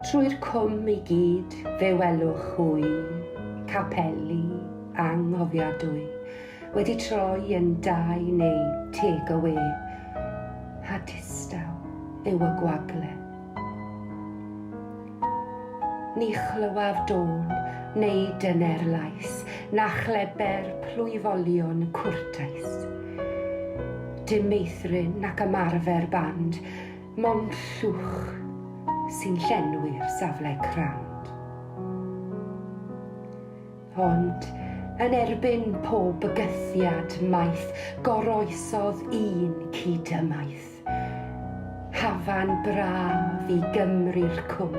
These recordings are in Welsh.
Trwy'r cwm i gyd fe welwch hwy, capeli anghofiadwy, wedi troi yn dai neu take away, a distaw yw y gwagle. Ni chlywaf dôn neu dyner lais, na chleber plwyfolion cwrtais. Dim meithrin nac ymarfer band, mond llwch sy'n llenwi'r safle crand. Ond yn erbyn pob bygythiad maith, goroesodd un cyd-ymaith. Hafan braf i Gymru'r Cwm,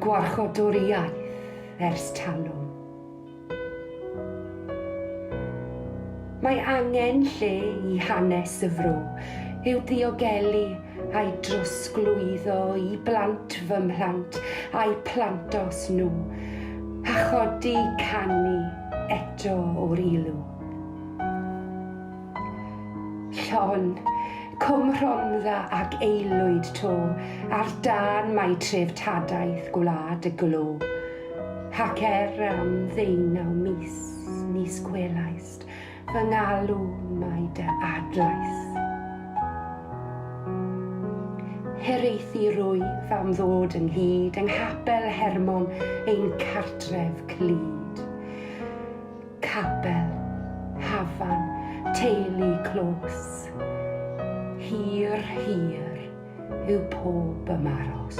gwarchodwr iaith ers talwm. Mae angen lle i hanes y fro i'w ddiogelu a'i drosglwyddo i blant fy mhlant a'u plantos nhw, a chodi canu eto o'r ilw. Llon, Cwm Rhondda ac aelwyd to ar dân mai treftadaeth gwlad y glo. Ac er am ddeunaw mis, nis gwelaist fy ngalw mai dy adlais. Hiraethu rwyf am ddod ynghyd yng nghapel Hermon ein cartref clyd. Capel, hafan, teulu clos. Hir, hir yw pob ymaros.